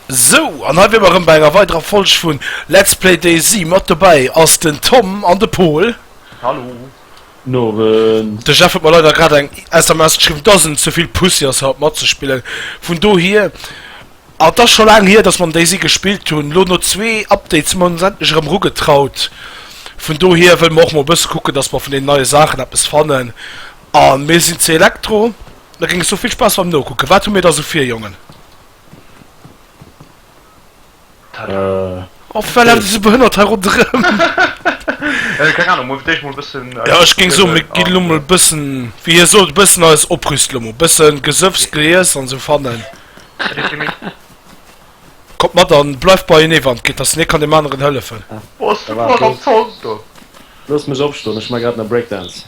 Sou, an hei wier mer erëm bei enger weiderer Folg vun Let's Play DayZ. Mat dobäi ass den Tom an de Pol. Hallo. Guten Owend. De Jeff huet mer leider grad eng SMS geschriwwen, dass en ze vill Pussy ass haut matzespillen. Vun dohier, an et ass scho laang hier, dass mer am DayZ gespillt hunn, elo no zwee Updates hu mer ons endlech erëm erugetraut. Vun dohier wëlle mer och mol e bësse kucken, dass mer vun deenen neie Saachen eppes fannen. A mir sinn ze Elektro. Da géings du vill Spass beim Nokucken. Wat hu mir da sou vir, Jongen? Tada! Oh wat lafen déi sou behënnert hei ronderëm? Keng Ahnung, muer fir d'éischt mol e bëssen eis. Jo ech géing soen, mir ginn elo mol e bëssen, wéi hie sot, e bëssen eis oprüst elo mol. Bëssen Gesëffs, Geiess an sou fannen. Kommt mat an bleift bei enee wann et geet, dass en ee kann deem aneren hëllefen. Boah ass du flott am Zond do! Loosst mech opstoen, ech maa grad nei Breakdance.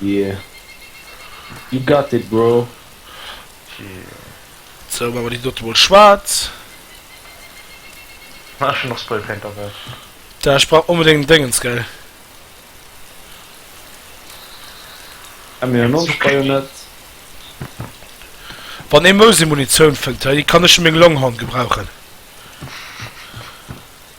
Yeah. You got it, bro. Sou, maache mer déi dote mol schwaarz. Ah, ech hunn och Spraypaint derbäi. Da, ech brauch onbedéngt Déngens, gell. Hu mir en Onspray-Net? Wann ee Mousi-Munitioun fënnt, hei kann ech fir meng Longhorn gebrauchen.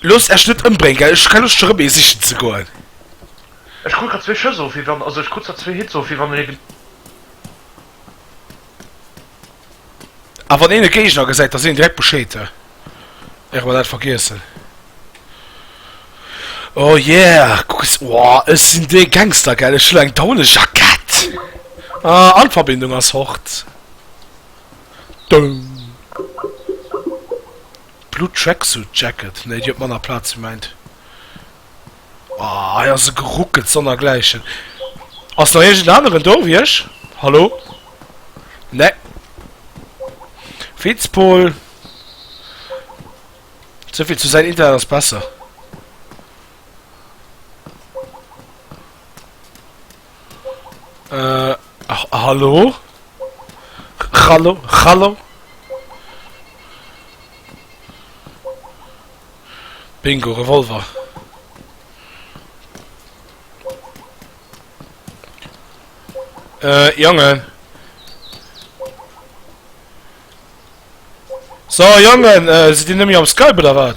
Loosst Äech net ëmbréngen, gell? Ech hu keng Loscht fir erëm ee sichen ze goen. Ech krut grad zwee Schëss of, wéi wann, also ech krut zwar zwee Hits of, wéi wann een e. A wann een e Géigner gesäit, da seet een direkt Bescheed, hä? Wäre mer dat vergiessen. Oh yeah, kuck es, woah, ech sinn dee Gangster, gell? Ech hu lo eng Daunejackett. Ah, an d'Verbindung ass fort. Doum. D'Blue Tracksuit Jacket, nee déi huet manner Platz wéi mäint. Ahh hei ass e geruckelt sonnergläichen. Ass nach iergend en aneren do wéi ech? Hallo? Nee. Vizepool. Souvill zu säin Internet ass besser. Äh, hallo? Hallo? Hallo? Bingo, Revolver. Äh, Jongen. So, Jongen, äh, si Dir nëmme am Skype oder wat?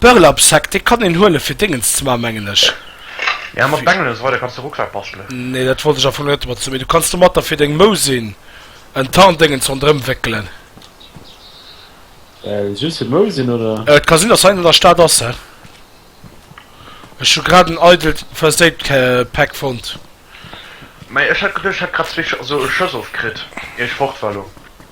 Burlap-Sack, dee kann een huele fir Déngens ze maachen, mengen ech. Jo, mat Bengelen an esou weider kanns de Rucksak bastelen. Nee, dat wollt ech am Fong net mat sou. Mee du kanns domatter fir deng Mousin en Tarndéngens ronderëm wéckelen. Just fir d'Mousin, oder? Et ka sinn, dass hei an der Stad ass, he? Ech hu grad en eidelt First-Aid-Pack fonnt. Mä ech hat geduecht, ech hätt grad zwee Schëss ofkritt, ier ech fort war elo.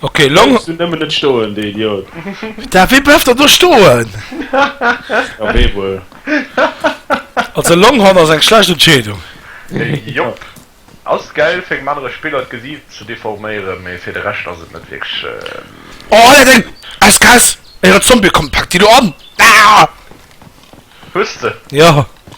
Okay, long. Bleiwes du nemmen net stoen, de Idiot. Daf wee bleiwt dann do stoen? Ja, wee wuel? Also Longhorn ass eng schlecht Entscheedung. Jop. Ass gäil fir engem anere Spiller d'Gesiit ze deforméieren, mee fir de Rescht ass et net wierklech. Oh Alter deng SKS, eier Zombie kommt, pack déi do an! Aah! Hues de? Jo.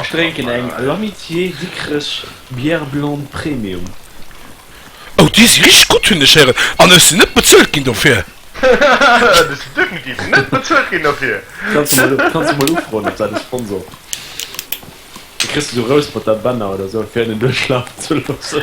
Ech drénken eng L'Amitié Dikrech Bière Blonde Premium. Oh déi si richteg gutt hunn ech héieren an ech sinn net bezuelt ginn dofir. Du si definitiv net bezuelt ginn dofir. Kanns de mol ufroen op dat e Sponsor da kriss de sou Rouspert-a-Bänner oder sou fir en en duerchlafen ze loossen.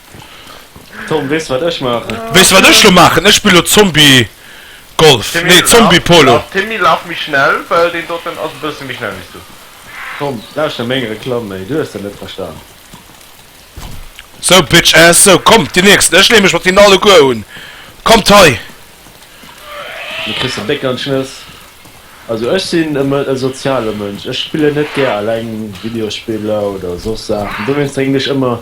Tom, weess du wat ech maachen? Weess du wat ech lo maachen? Ech spille lo Zombie Golf, nee Zombie Polo. Timmy, laf méi schnell, well deen doten ass e bësse méi schnell wéi du. Tom, lauschter meng Reklamm méi, du hues dat net verstan. Sou Bitch Ass, sou komm déi nächsten, ech lee mech mat hinnen alleguer un, kommt hei. Mir kriss de Béck an d'Schnëss. Also ech sinn e soziale Mënsch, ech spillen net gär eleng Videospiller oder soss Saachen, dowéinst drénken ech ëmmer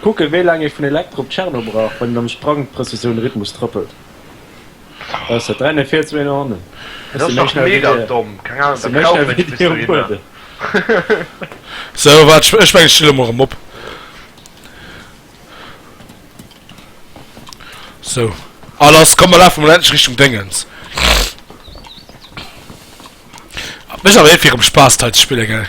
Kucken wéi laang ee vun Elektro op Tcherno brauch wann een am Sprang d'Prëzessioun Rhythmus trëppelt. Besser 3 no vir, zwee no hannen. Dat ass dach mega domm, keng Ahnung, da kaufen ech bis dohinner. Sou waart, ech mengen ech stinn elo mol erëm op. Sou a lass, komm mer lafe mol endlech Richtung Déngens. Mécht awer eh virem Spaass d'Hai ze spillen, gell?